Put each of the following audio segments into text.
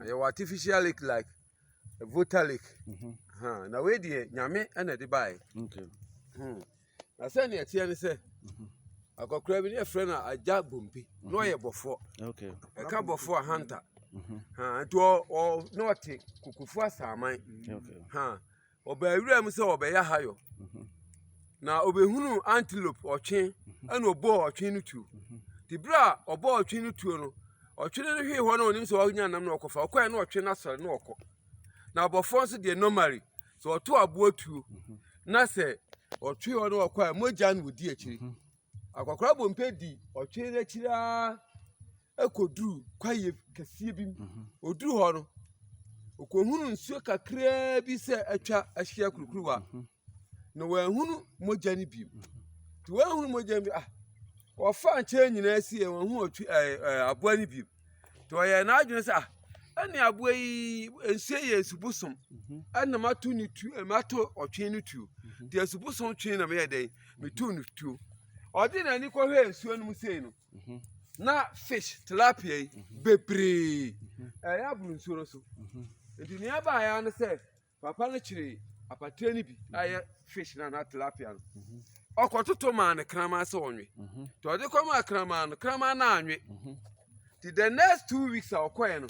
yɛwɔ artificial lake like vota lake mm-hmm. na wei deɛ nyame na ɛde baeɛ hmm. na sɛ ne ɛteɛ ne sɛ mm-hmm. akɔkora bi ne yɛfrɛ no agya bompe na mm-hmm. ɔyɛ bɔfoɔ ɛka bɔfoɔ ahanta nti na ɔte kokofo asaaman Ɔbaa wuram sɛ ɔbɛyɛ ahayɔ, na ɔbɛhunuu antelope ɔtwe, ɛna ɔbɔɔ ɔtwe no tuo. Nti berɛ a ɔbɔɔ ɔtwe no tuo no, ɔtwe no hwee hɔ na ɔnim sɛ ɔnya nam na ɔkɔfa. Ɔkɔɛ na ɔtwe no asɔre na ɔkɔ. Na abɔfoɔ nso deɛ normally sɛ ɔto aboa tuo na sɛ ɔtwe hɔ na ɔkɔ a mogya na ɔdi akyire. Akwakoraa bɔ mpɛ di ɔtwe no akyiri ara kɔduru kwaeɛ kɛseɛ bi mu. Mhm. Ɔduru hɔ no, ɔkɔhunu nsuo kakraa bi sɛ atwa ahyia kurukuruwa. Mhm. Na wɔahunu mogya no bi. Mhm. Nti wɔahunu mogya no bi ah, wɔfa nkyɛn nyinaa sie wɔahu ɔtwe ɛɛ aboa no bi. nti ɔyɛɛ n'adwene sɛ ah ɛne aboa yi nsuo yɛ nsu bosom mhm. ɛna mato ne tu eh, mato ɔtwe no tuo mhm. deɛ nsu bosom twe na meyɛ dɛn meto no tuo ɔde n'ani kɔhwɛ nsuo no mu sei no mhm. na fish tilapia yi bebree ɛyɛ aboro nsuo no so nti nea ɛbaeɛ no sɛ Papa no kyeree apateɛ no bi a ɛyɛ mhm. fish no anaa tilapia no mhm. ɔkɔtoto maa no kraman sɛ ɔnwe mhm. nti ɔde kɔmaa kraman no kraman no anwe nti the next two weeks a ɔkɔɛ no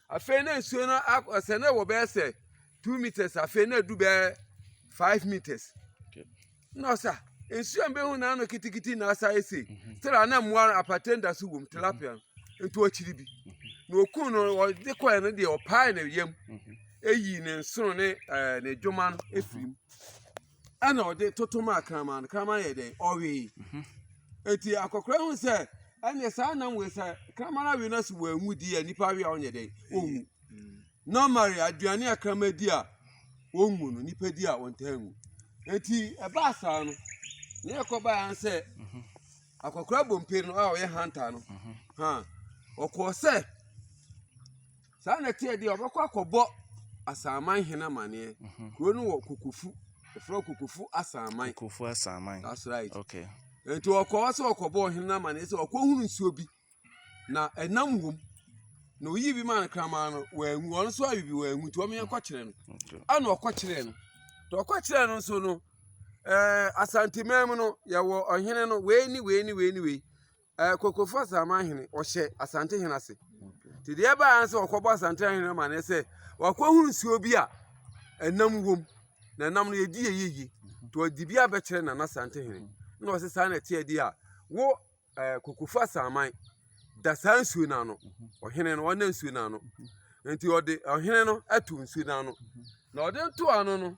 afei na nsuo no sɛ na ɛwɔ bɛyɛ sɛ two meters afei na ɛdu bɛyɛ five meters na ɔsɛ a nsuo a mbɛhu na ano kitikiti na asa ese mhm. sɛdeɛ ana mmoa no apate da so wom tilapia no mhm. nti ɔkyiri bi mhm. na okun no ɔde kɔɛ no deɛ ɔpae ne yam eyi ne nsono ne ɛɛ ne dwoma no efiri mu ɛna ɔde toto maa kraman no kraman yɛ dɛ ɔwee eti akɔkora ho sɛ ɛnna saa nam wei sɛ kraman awi no so wɔ enwu di yɛ nipa awi a ɔnyɛ dɛ owu. Normally aduane a kraman di a wɔnwu no, nipa di a wɔntaa nwu. Enti ɛbaa saa no, ne ɛkɔbaeɛ ara sɛ akɔkora bompe no a ɔyɛ hanta no, ha ɔkɔɔ sɛ saa na ɛteɛ deɛ ɔbɛkɔ akɔbɔ asaaman hene amaneɛ. Kuro no wɔ kokofu, ɛfrɛ kokofu asaaman. Kokofu asaaman. That's right. Okay. Enti ɔkɔɔ sɛ ɔkɔbɔ ɔhene amaneɛ sɛ ɔkɔhunu nsuo bi. na ɛnam wom na oyi bi maa no kraman no wɔanwu wɔn nso awi bi wɔanwu nti wɔn yɛn kɔkyerɛ no ɛna ɔkɔkyerɛ no na ɔkɔkyerɛ no nso no ɛɛ asanteman mu no yɛwɔ ɔhene no wei ni wei ni wei ni wei ɛɛ kokofo asaman hene ɔhyɛ asante hene ase te deɛ ɛbaa yɛn sɛ ɔkɔbɔ asante hene ma ne sɛ wakɔhu nsuo bi a ɛnam wom na ɛnam no yɛdi yɛ yie yie nti ɔde bi abɛkyerɛ nana asante hene na ɔsɛ saa na ɛteɛ deɛ a wo ɛɛ kokofu asaman da saa nsuo no ano ɔhene no ɔnna nsuo no ano nti ɔde ɔhene no ato nsuo no ano na ɔde nto ano no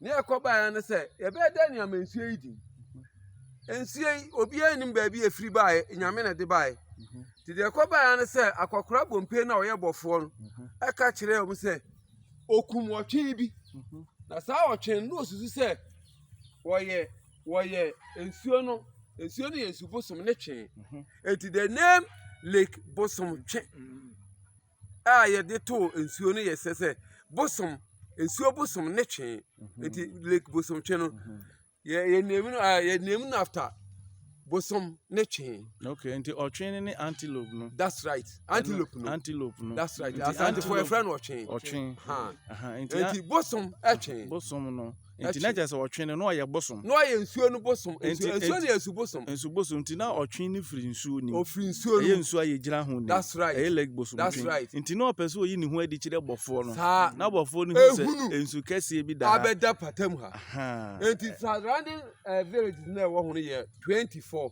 ne ɛkɔbaeɛ no sɛ yɛbɛyɛ dɛ nneɛma nsuo yi di nsuo yi obiara nim baabi efiri baeɛ nyame na ɛde baeɛ nti deɛ ɛkɔbaeɛ no sɛ akɔkora bompe na ɔyɛ bɔfoɔ no ɛka kyerɛ wɔn sɛ okum ɔtwe bi na saa ɔtwe no na osusu sɛ wɔyɛ. wɔyɛ nsuo no nsuo no yɛ nsu bosom ne twe mhm. eti the name lake bosom twe mm. a yɛde too nsuo no yɛ sɛ sɛ bosom nsuo bosom ne twe mhm. eti lake bosom twe no mhm. yɛ yɛ name no ah, yɛ name no after bosom ne twe. okay nti ɔtwe ne ne antelope no. that's right antelope no antelope no that's right asante fo efra no ɔtwe. ɔtwe nti bosom ɛtwe. bosom no. nti na kyerɛ sɛ ɔtwe no na ɔyɛ bosom. na ɔyɛ nsuo no bosom nti Nti- nsuo nti- no yɛ nsu bosom nsu bosom nti na ɔtwe no firi nsuo nim ɔfiri nsuo no ɛyɛ mu nsuo a yɛgyina ho nim that's right ɛyɛ lake bosom That's twe right. nti na ɔpɛ sɛ ɔyi ne ho adi kyerɛ bɔfoɔ no saa na bɔfoɔ no hu sɛ Ehunu. nsu kɛseɛ bi daa abɛda pata mu ha Ahaa. nti surrounding eh, villages na ɛwɔ ho no yɛ 24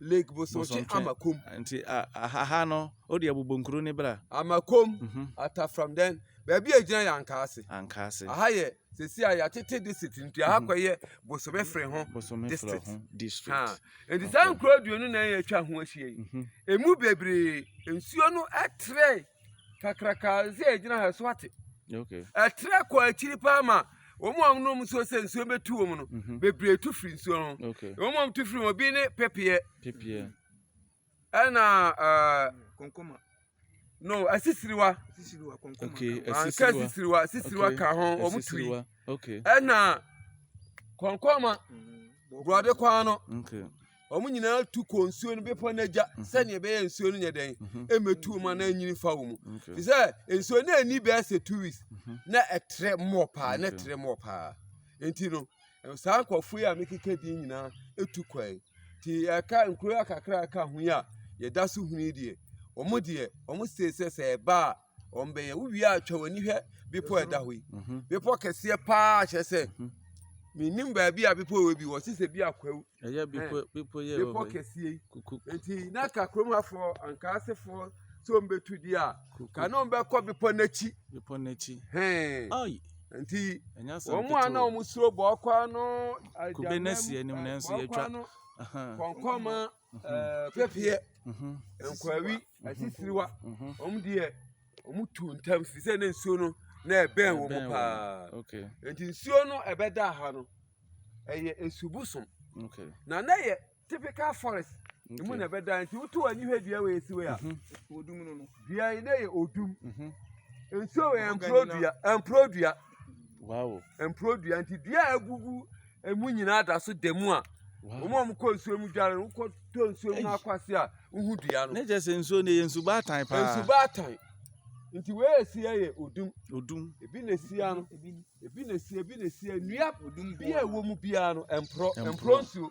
Lake Bosomtwe Amakom. Nti aha no, o deɛ bobɔ nkuro ne bra. Amakom, mhm. Atafram dɛn, baabi a gyina yɛ Ankaase. Ankaase. Aha yɛ sisi a yɛatete district nti aha mhm. kɔ yɛ Bosome fere ho district. district. Nti saa nkuro aduonu na yɛatwa ho ahyia yi, mhm. emu bebree nsuo no ɛtrɛ. kakraka sɛ ɛgyina ha so ate ɛtrɛ kɔ akyiri paa ma wɔn a wɔnom nsuo sɛ nsuo bɛtu wɔn no mhm. bebree tu firi nsuo no wɔn a wɔtu firi wɔn bi ne pepeɛ ɛna eh, kɔnkɔma no asisiriwa anka asisiriwa asisiriwa ka ho wɔn tu yi ɛna kɔnkɔma mm, borɔde kwan no. Wɔn nyinaa tu kɔ nsuo no bepɔ no agya mhm. sɛdeɛ ɛbɛyɛ nsuo no nyɛ dɛn mhm. ɛmɛtu wɔn anaa ɛnyini fa wɔn mu te sɛ nsuo no ani bɛyɛ sɛ two weeks mhm. na ɛtrɛ mmɔ paa na ɛtrɛ mmɔ paa nti no saa nkurɔfoɔ yi a mekeka din nyinaa ɛtu kɔe nti ɛka nkuro akakra ɛka ho yi a yɛda so huni deɛ wɔn deɛ wɔn sɛ sɛ sɛ ɛba a wɔn bɛyɛ wowie a twa w'ani hwɛ bepɔ a ɛda hɔ yi mhm. bepɔ kɛseɛ paa kyerɛ sɛ mhm. menim baabi a bepɔ wɔ bi wɔ se sɛ bi akwawu bepɔ kɛseɛ yi nti na ka kurom hafoɔ anka asefoɔ sɛ ɔmbɛtu di a ka ne ɔmbɛkɔ bepɔ n'akyi nti wɔn a na wɔn suro bɔɔkwa no agyanam bɔɔkwa no kɔnkɔma pɛpeɛ nkwawi asisiriwa wɔn deɛ wɔn tu ntam fi sɛ ne nsuo no na ɛbɛn wɔn paa nti nsuo no ɛbɛda ha no ɛyɛ esubusom na na yɛ typical forest emu na ɛbɛda nti wotu wɔn ani hwɛ dua wɔ esi wɔ ya dua yi na yɛ odum nsuo wɔ yɛ mpuro dua mpuro dua. Mpuro dua nti dua a agugu mu nyinaa da so da mu a wɔn a wɔkɔ nsuo mu dware no wokɔtɔ nsuo mu akɔ ase a wohu dua no. Ne kyerɛ sɛ nsuo no yɛ nsubaatan paa. Nsubaatan nti wei a ɛsi yɛ odum. Odum. Ebi na ɛsi ya no ebi na ɛsi ebi na ɛsi ya nnua bi a ɛwɔ mu biara no mporɔ mporɔ nsuo.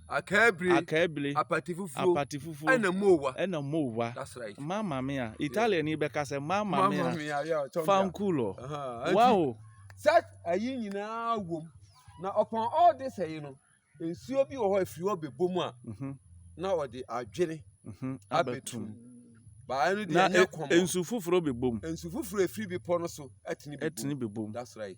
Akaabire, Akaabire, apate fufuo, apate fufuo, ɛna mowa, ɛna mowa. That's right. Mmaa maame a, Italian ni bɛka sɛ mmaa maame a, maame a, yeah, tɔmia. fankulo. Uh-huh. Wow. Sɛ ayi nyinaa wom na upon all this ɛyi no, nsuo bi wɔ hɔ efiri hɔ bɛbɔ mu a, Mhm, na ɔde adwene mhm, abɛtum. abɛtum. Baa no deɛ Na ɛnyɛ ɛ- kɔmɔ. nsu foforɔ bɛbom Nsu foforɔ efiri bepɔ no so ɛtene bɛbom. ɛtene bɛbom. That's right.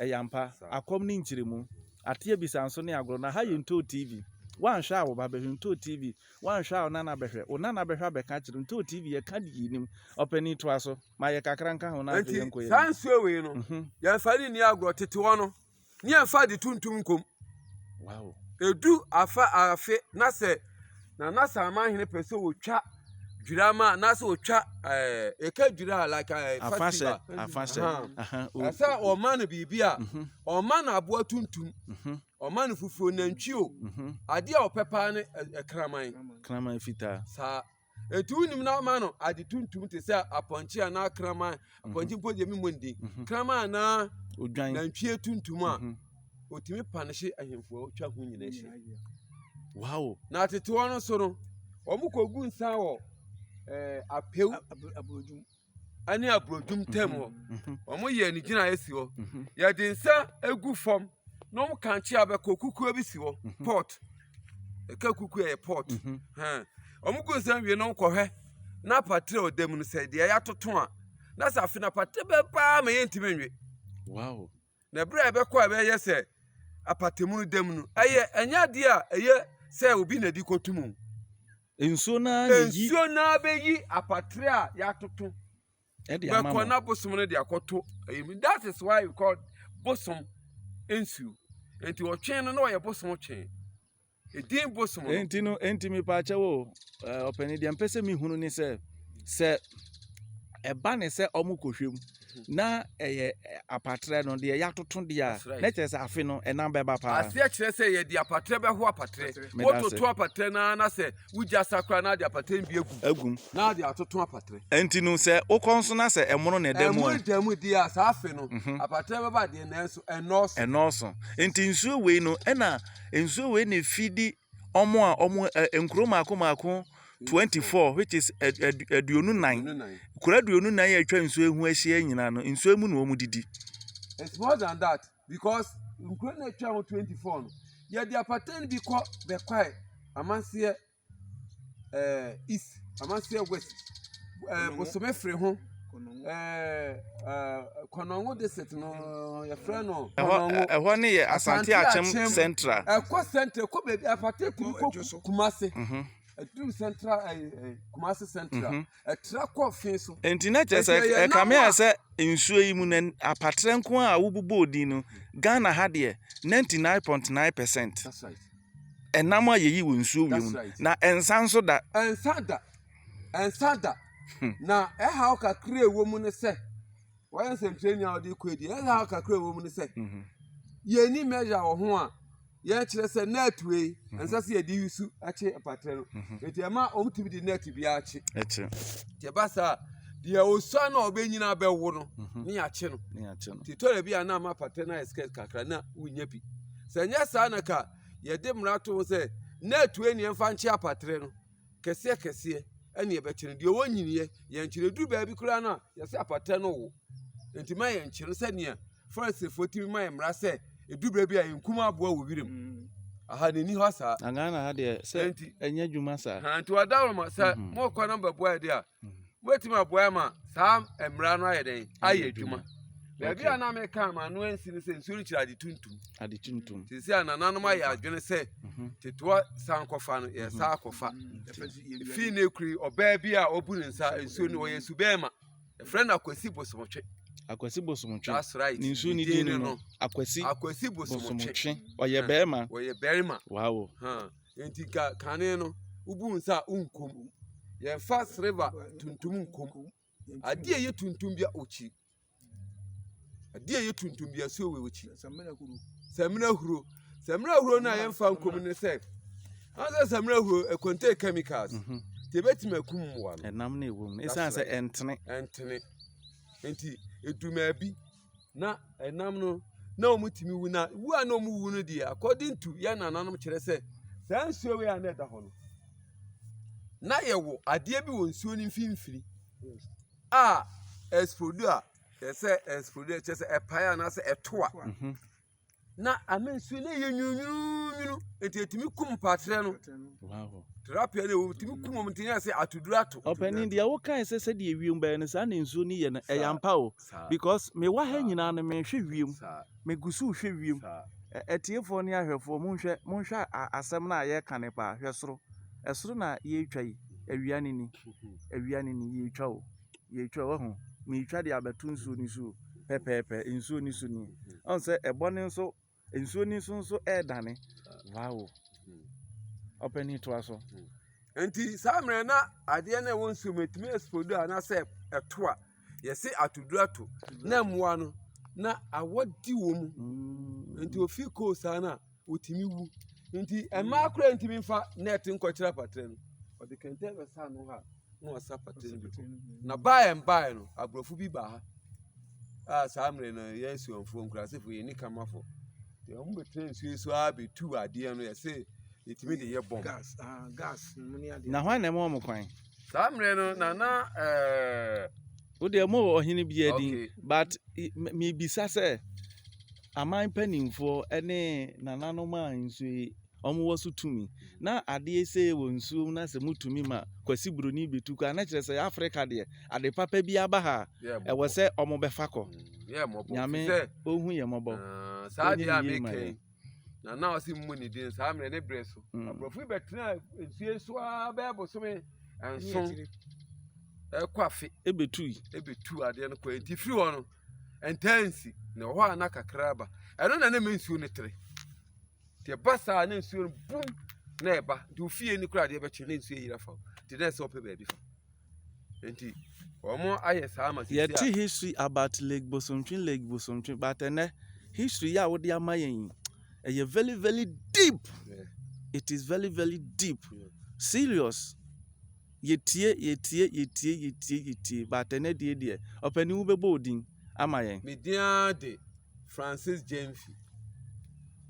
Ɛyɛ ampa. Akɔm ne nkyeremu. Ate abisa nso ne agorɔ. Na ha yɛ Ntoo TV. Woanhwɛ a wo ba bɛhwɛ Ntoo TV. Woanhwɛ a wo nana bɛhwɛ. Wo nana bɛhwɛ abɛka akyerɛ wo. Ntoo TV yɛka deɛ yɛnim. Ɔpanin toa so. Ma yɛ kakra nka ho na afei yɛnkɔ yɛn anim. Enti saa nsuo wei no yɛmfa no nni agorɔ tete hɔ no ne yɛmfa ade tuntum nkɔ mu. Ɛdu afe na sɛ. na na Samanhene pɛ sɛ ɔtwa dwira ma na sɛ ɔtwa ɛɛ eh, ɛka dwira like ɛɛ eh, festival ɛsɛ ɔma no biribi a mhm. ɔma no aboa tuntum mhm. ɔma no fufuo nantwi o mhm. adeɛ a ɔpɛ paa ne ɛkraman kraman fitaa saa Enti wonim no ama no ade tuntum te sɛ apɔnkye anaa kraman. Mhm. Apɔnkye mpo deɛ memmɔ ndin. Mhm. Kraman anaa nantwie tuntum a mhm. ɔtumi pa no hye ahemfo a ɔtwa ho nyina hye. Wow. Na atetewa no so no, wɔkɔgu nsa wɔ eh, apɛw ne aburodum ntam hɔ. Wɔyɛ ne gyinaeɛ si hɔ. Yɛde nsa gu fam na wɔn kankyea bɛkɔ kukuo bi si hɔ pot. Ɛka kukuo yɛ pot. Wɔn gu nsa wie na wɔkɔhwɛ na patere a ɔda mu no sɛ deɛ yɛatoto a na sɛ afe no patere bɛn paa ma yɛntumi nwe. Wow. Na bere a ɛbɛkɔ a ɛbɛyɛ sɛ apatamu no dam no, ɛyɛ ɛnyɛ adeɛ a ɛyɛ sɛ obi na ɛde kɔto mu. Nsuo no ara na ɛyi. Nsuo no ara bɛyi apatere a yɛatoto. Ɛde ama mo. Bɛkɔ na bosom no de akɔto. That is why we call bosom nsuo. Nti ɔtwe no na ɔyɛ bosom twe. Edin bosom no. Enti no, enti me pa akyɛw o. Ɔpɛni deɛ mpɛ sɛ me hunu ne sɛ sɛ ɛba ne sɛ ɔmo kɔhwɛ mu na ɛyɛ apatrɛ no deɛ yɛatoto deɛ a na kyerɛ sɛ afe no ɛnam bɛba paa aseɛ kyerɛ sɛ yɛde apatrɛ bɛho apatrɛ wototo apatrɛ no na sɛ wogya sa koraa na de apatrɛ no bi agu agum na de atoto apatrɛ ɛnti no sɛ wokɔ nso na sɛ ɛmono na ɛda mu ɛmono da mu deɛ a saa afe no mhm. apatrɛ bɛba deɛ nanso ɛnɔɔso ɛnɔɔso nti nsuo wei no ɛna Nsuo wei na ɛfidi wɔn a wɔn ɛ ɛ nkuro mmaako mmaako twenty four which is ɛ ɛ aduonu nnan. Aduonu nnan. Nkuro aduonu nnan a atwa nsuo yi ho ahyia nyinaa no, nsuo yi mu na wɔdidi. It's more than that because nkuro no a atwa ho twenty four no, wɔde apata no bi kɔ Bekwai, Amaseɛ, ɛɛ east Amasia west ɛɛ bosome firi ho ɛɛ ɛɛ kɔnɔngo district no yɛfrɛ no. ɛhɔ ɛhɔ ne yɛ asante akyem central. ɛkɔ central ɛkɔ baabi afate kuru kɔ kumase. ɛduru central ɛɛ kumase central. ɛtra kɔɔ fi so. Enti na kyerɛ sɛ ɛkame ayɛ sɛ nsuo yi mu na apatrɛ nko a wobobɔɔ din no Ghana ha deɛ 99.9 percent ɛnam a yɛyi wɔ nsuo wie mu na ɛnsa nso da. Ɛnsa da ɛnsa da hmm. na ɛhaw kakra ɛwɔ mu no sɛ Wɔyɛ nsɛnkyerɛnni a wɔde kɔ adi. Ɛyɛ a kakra ɛwɔ mu ne sɛ, mhm. yɛnni measure wɔ ho a yɛkyerɛ sɛ net wei mhm. ɛnsɛ sɛ yɛde yi su akye mpatrɛ no. Mhm. Nti ɛma wɔn tumi de net biara akye. Ɛkye. Nti ɛba saa deɛ osua na ɔbɛnyina bɛwo no ne yɛakye no. Nti tɔrɔ bi a na ama patrɛ no ayɛ skirt kakra na wonya bi. Sɛ nyɛ saa na ka yɛde mmara to ho sɛ net wei ne yɛmfa nkye apatrɛ no. kɛseɛ kɛseɛ ɛne ɛbɛkye no deɛ ɔwɔ nyiniɛ yɛnkyerɛ duru baabi koraa no a yɛsɛ apata no wo nti ma yɛnkyerɛ sɛdeɛ farisifo tumi ma yɛn mmara sɛ ɛdu baabi a yɛnkum aboa wɔ wiram mm. aha n'ani hɔ saa na ghana ha deɛ sɛ ɛnyɛ adwuma saa nti ɔda wɔ ma sɛ mɔkɔ na mbɛboa yɛ deɛ a wobɛtumi aboa ma saa mmara no ayɛ dɛn ayɛ adwuma baabi a na meka ma no ansi no sɛ nsuo no kyerɛ ade tuntum ade tuntum te sɛ a nananom ayɛ adwene sɛ mhm. tetewa san kɔfa no yɛ saa kɔfa mhm. fii no akuri ɔbaa bi a ɔbu ne nsa nsuo no ɔyɛ su bɛɛma ɛfrɛ no akwasi bosomotwe akwasi bosomotwe that's right ne nsuo ne din no akwasi akwasi bosomotwe ɔyɛ bɛɛma ɔyɛ bɛɛma wow Enti ka kane no wobu nsa a wonkum. Yɛmfa sereba tuntum nkum. Adeɛ a ɛyɛ tuntum bia ɔkyi. Adeɛ a ɛyɛ tuntum bia so wɔ ɔkyi. Samina huro. Samina huro no a yɛmfa nkum ne sɛ ansa samina huro ɛkɔntɛ chemicals. Mhm. Nti ebetumi akum mmoa no. Ɛnam na ɛwɔ mu. Ɛsan sɛ ɛntene. Ɛntene. Nti edumaabi. na ɛnam no na wɔtumi wu na wu a na wɔwu no deɛ according to yɛn nananom kyerɛ sɛ saa nsuo wei a na ɛda hɔ no na yɛwɔ adeɛ bi wɔ nsuo no mfimfini a ɛspodu a ɛsɛ ɛspodu a kyerɛ sɛ ɛpae anaasɛ ɛto a mhm. na ame nso na ɛyɛ nwununwununwunu nti ɛtumi kum mpatrɛ no tilapia no ɛtumi kum wɔn nti na sɛ atoduro ato ɔpɛni deɛ wokae sɛ sɛdeɛ wiem bɛyɛ no saa na nsuo no yɛ no ɛyɛ ampa o because mewɔ ha nyinaa no mehwɛ wiem megu so hwɛ wiem atiefoɔ ne ahwɛfoɔ monhwɛ monhwɛ asɛm no a yɛreka ne paa hwɛ soro ɛsoro na yɛretwa yi awia ne ni awia ne ni yɛretwa o yɛretwa wahu meretwa de abɛto nsuo no so pɛpɛɛpɛ nsuo no so nie ɔn sɛ ɛbɔ no nso nsuo no so nso ɛredane wow ɔpɛni toa so. nti saa mmerɛ na adeɛ no ɛwɔ nsuo mu ɛtumi ɛspɔdu a na sɛ ɛto a yɛse atoduro ato na mmoa no na awɔ di wɔ mu nti ofi koo saa no a wɔtumi wu nti mmaa koraa ntumi nfa net nkɔkyerɛ apatrɛ no ɔde kɛntɛn bɛsa ano ha na ɔsa apatrɛ no bi na baeɛ mbaeɛ no aborɔfo bi baa ha a saa mmerɛ no yɛ asuamfoɔ nkurasefoɔ yɛ nikamafo nti wɔn bɛtena nsuo so ara bɛtu adeɛ no yɛse yɛtumi de yɛ bɔm ah, na hwan na ɛma wɔn kwan saa mmerɛ no nana ɛɛ eh, Wo deɛ mo wɔ ɔhene bi adin Okay. but i- m- mebisa sɛ aman mpanimfoɔ ne nananom a nsuo yi wɔwɔ so tumi na adeɛ sei wɔ nsuo mu na sɛ motumi ma kwasi buroni bɛtu kɔ a na kyerɛ sɛ yɛ afrika deɛ ade papa bi aba ha Yeah, a ɛwɔ sɛ wɔbɛfa kɔ Mm, yeah, mmɔbɔ. nyame Fi sɛ, ɔhu yɛ mmɔbɔ ah, saa Wonyɛ deɛ a ne yie ma meka yi yɛn. na na ɔsi mmu ne din saa mmerɛ ne berɛ so mm. aborɔfo yi bɛtena nsuo so ara bɛyɛ bosome nson ɛkɔ afe ebetui ebetu adeɛ no kɔ eti firi hɔ no ntansi na ɛwɔ hɔ a na kakra aba ɛno na ne ma nsuo no tere te ɛba saa ne nsuo no bum na ɛba nti ofie ni kora adeɛ bɛkye ne nsuo yira fa te dɛ sɛ ɔpɛ baabi fa. Enti wɔn ayɛ saa ma sisi a. Yɛte history about Lake Bosontwe, Lake Bosontwe, but ɛnɛ history yɛ a wode ama yɛn yi, ɛyɛ very very deep. Yeah. It is very very deep. Yeah. Serious. Yɛtie, yɛtie, yɛtie, yɛtie, yɛtie, but ɛnɛ deɛ deɛ, ɔpɛni wobɛbɔ odin ama yɛn. Me din ara de Francis Gyamfi.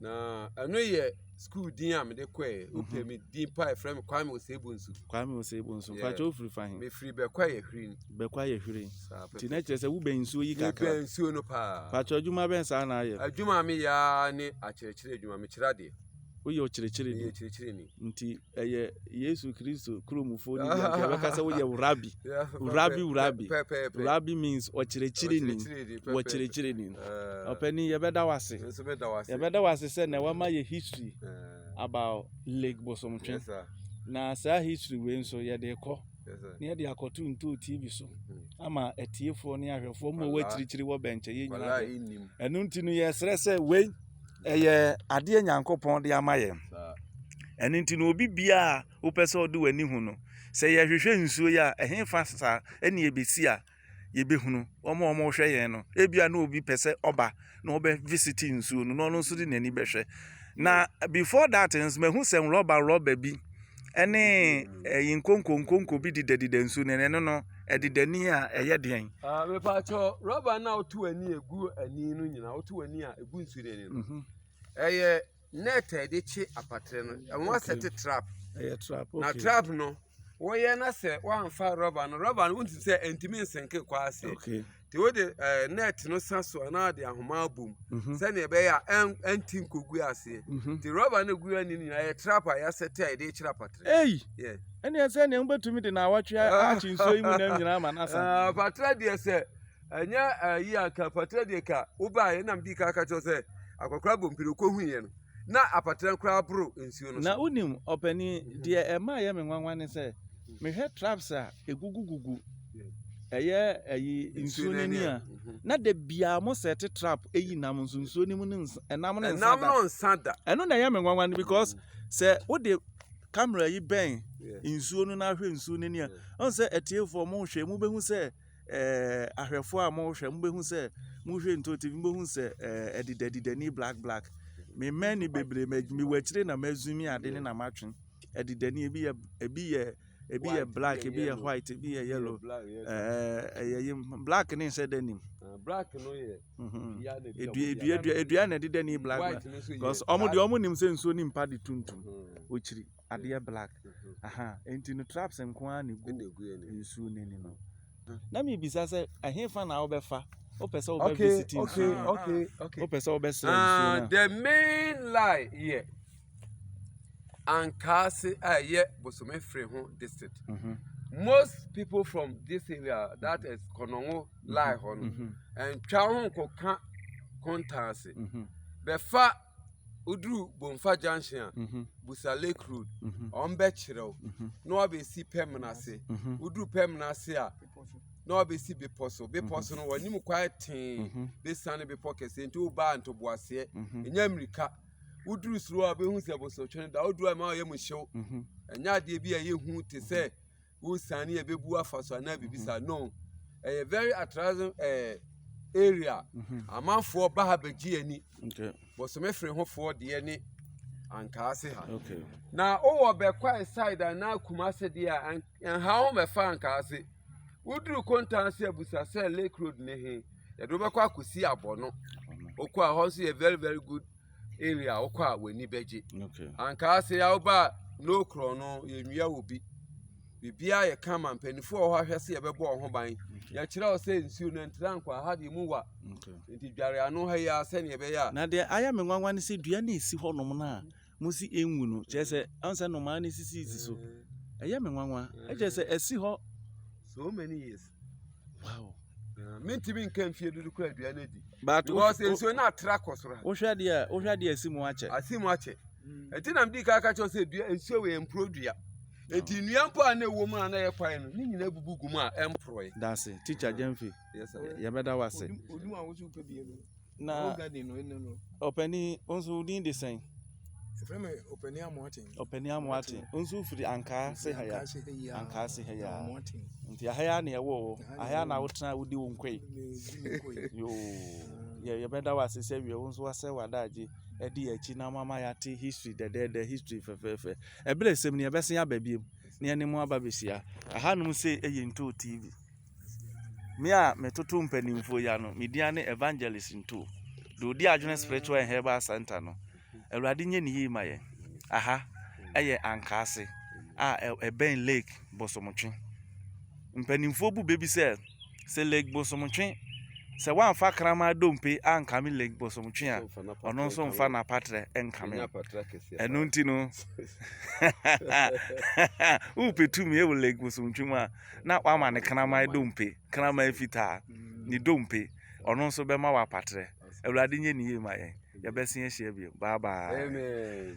na ɛno yɛ sukuu din a mede kɔɛ wopɛ mhm. me din pa ɛfrɛ me kwame osebu nso kwame osebu nso mpakyɛ wofiri fa he mefiri bɛkɔ ayɛ hwirin bɛkɔ ayɛ hwirin nti na kyerɛ sɛ wobɛn nsuo yi kakra mebɛn nsuo no paa mpakyɛ adwuma bɛn saa na ayɛ adwuma meyɛ ne akyerɛkyerɛ adwuma mekyerɛ adeɛ woyɛ ɔkyerɛkyerɛni Nti ɛyɛ Yesu Kristo kuromfo no bi anka yɛbɛka sɛ woyɛ wurabi. Wurabi wurabi. Wurabi means ɔkyerɛkyerɛni. Wɔkyerɛkyerɛni no. Ah. Ɔpɛni yɛbɛda wo ase. Yɛbɛda wo ase sɛ na wama yɛ history ah. about Lake Bosomtwe. Na saa history wei nso yɛde kɔ na yɛde akɔto ntoo tv so hmm. ama atiefoɔ ne ahwɛfoɔ ma wɔakyirikyiri wɔ bɛnkyɛ yɛ nyinaa ɛno nti no yɛsrɛ sɛ wei Ɛyɛ adeɛ Nyankopɔn de ama yɛn. Ɛno nti no obi biara a wopɛ sɛ ɔde w'ani hu no, sɛ yɛhwehwɛ nsuo yi a, ɛhe fa saa ɛne yɛbɛsi a yɛbɛhunu wɔn a wɔhwɛ yɛn no. Ebia na obi pɛ sɛ ɔba na ɔbɛ visit nsuo no na ɔno nso de n'ani bɛhwɛ. Na before that nso mahu sɛ nrɔba nrɔba bi ɛne ɛyi nkonko nkonko bi didadida nsuo no ɛno no ɛdidani a ɛyɛ deɛn. Ah, mepatwɔ rɔba no a woto ani egu ani no nyinaa woto ani a egu nsuo no ani no mhm. ɛyɛ net a yɛde kye apatere no ɛho asɛte trap ɛyɛ trap okay na trap no wɔyɛ na sɛ wɔanfa rɔba no rɔba no wontumi sɛ ɛntumi nsɛnke kɔ ase okay. nti wode eh, net no sa so anaa de ahoma abom mhm. sɛnea ɛbɛyɛ a ɛnti nkogu aseɛ mhm. nti rɔba no gu ani nyinaa yɛ trap a yɛasɛ te a yɛde kyerɛ apatere ei ɛneɛ sɛ neɛ wobɛtumi de na awɔtwe ah. akye nsuo yi mu nam nyinaa ma no asa ah, apatere deɛ sɛ ɛnyɛ ayi eh, anka apatere deɛ ka wobaa yɛnam dii ka ka kyerɛ sɛ akɔkora bɔ mpire wokɔhuiɛ no na apatran koraa boro nsuo no so. Na wonim, ɔpanin, deɛ ɛma ɛyɛ me nwanwa ne sɛ, mehwɛ traps a ɛgugugugu ɛyɛ ayi nsuo no ani a, na da biara mo sɛte trap ɛyi nam nso nsuo no mu no nsa, ɛnam no nsa da. nsa da. Ɛno na ɛyɛ me nwanwa no because sɛ wode camera yi bɛn nsuo no na ahwɛ nsuo no ani a, ɔn sɛ atiefoɔ mo hwɛ, mobɛhu sɛ eh, ahwɛfoɔ a mohwɛ mobɛhu sɛ mohwɛ nto tv mobɛhu sɛ eh, adidadidani black black me mmɛn ne bebree mewɔ akyire na mazumi ade ne na matwe adidani ebi yɛ ebi yɛ ebi yɛ black ebi yɛ white ebi yɛ yellow ɛyɛ yɛ black ne nhyɛ dɛ nim ah, black no yɛ mhm. edua edua na ɛdedani black black because ɔmo deɛ ɔmo nim sɛ nsuo ne mpa de tuntum okyiri. adeɛ black nti no traps nko ara na egu nsuo n'ani no na mi bisa sɛ ɛhefa na wobɛfa wopɛ sɛ wobɛ visit nsuo no wopɛ sɛ wobɛ srɛ nsuo no. the main lie yɛ ankaase a ɛyɛ bosome fere ho district. Mm -hmm. most people from this area that is kɔnɔngo lie hɔ no ɛntwa ho nkɔka kontaase bɛfa. woduru Bomfa junction a, mhm. Busa Lake Road, mhm. wɔn bɛkyerɛ wo mhm. na wɔabɛsi pɛm no ase. Woduru pɛm no ase a, na wɔabɛsi bepɔ so. Bepɔ so no, wɔnim kwae tee bɛsiane bepɔ kɛseɛ nti wobaa ntoboaseɛ, ɛnyɛ mmirika. Woduru suro a, wobɛhu sɛ bosotwe no da. Woduru a, ɛma wɔyɛ mu hyew. Ɛnyɛ adeɛ bi a ɛyɛ hu te sɛ wo san ne ɛbɛbu afa so anaa biribi saa no ɛyɛ very attractive ɛɛ area mhm. amanfoɔ ba ha bɛgye ani bɔsome firi hofoɔ deɛ ne ankaase ha na wowɔ bɛkwae side anaa kumase deɛ a ɛnha ho mɛfa ankaase woduru kontanse abusa sɛ lake road ne he yɛde wobɛkɔ akɔsi abɔ no wokɔ a hɔ nso yɛ very very good area a wokɔ a w'ani bɛgye ankaa sɛ yɛa woba a no korɔ no yɛnwia wɔ bi biribiaa yɛ ka ma mpanimfoɔ wɔ hɔ ahwɛ sɛ yɛbɛbɔ wɔ ho ban yɛkyerɛ wo sɛ nsuo no ntra nkɔ aha deɛ mu wa nti dware ano ha yi a sɛdeɛ ɛbɛyɛ a na deɛ ayɛ me nwanwa ne sɛ dua no ɛsi hɔ nom no a mo si ɛnwu no kyerɛ sɛ ɔn sɛ nnomaa no sisi si so ɛyɛ me nwanwa ɛkyerɛ sɛ ɛsi hɔ so many years wow mentumi nka mfie dodo kora aduane adi because nsuo no atra kɔ soro ha wohwɛ deɛ wohwɛ deɛ asi mu akyɛ asi mu akyɛ ɛti mm. na mede ka ka kyerɛ sɛ dua nsuo wɔ ɛmporo dua ɛti nnua mpo a na ɛwɔ mu a na ɛyɛ kwan no ne nyina bubu gu mu a ɛmporɔe dase tikya gyamfi yɛbɛda wo ase Na Ɔwɔ garden no anim no. ɔpanin wo nso wo din de sɛn Ɛfrɛ me ɔpanin amoaten. ɔpanin amoate wo nso wofiri ankaa se ha ya Ankaase ha yi a. ankaa se ha ya Amoaten. nti aha ya na ɛwɔ hɔ Aha na aha ya ɛwɔ na hɔ. wotena a wodi wo nkoe Mezi me koe. yoo yɛ- yɛbɛda wo ase sɛ wiɛ wo nso wasɛ w'adagye ɛde yɛ akyi na mama yɛate history dɛdɛɛdɛ history fɛfɛɛfɛ ɛberɛ sɛm ni yɛbɛsen aba biom na yɛne mo aba bɛhyia ahanom sei yɛ ntoo tv Me a metoto mpanimfoɔ ya no, me din ne Evangelist Nto. Deɛ ɔdi adwene Spiritual and Herbal Center no, Awurade nyɛ ne yie ma yɛn. Aha yɛ Ankaase a ɛbɛn Lake Bosomtwe. Mpanimfoɔ bu bɛ bi sɛ, sɛ Lake Bosomtwe, sɛ woamfa kraman dompe ankame Lake Bosomtwe a, ɔno nso mfa n'apatrɛ nkame. Ɛno nti no, wopɛ tumi wɔ Lake Bosomtwe mu a, na wama ne kraman dompe, kraman fitaa, ne dompe, ɔno nso bɛma wɔ apatrɛ. Awurade nyɛ ne yie ma yɛn. Yɛbɛsen ahyia bio. Bye bye. Amen.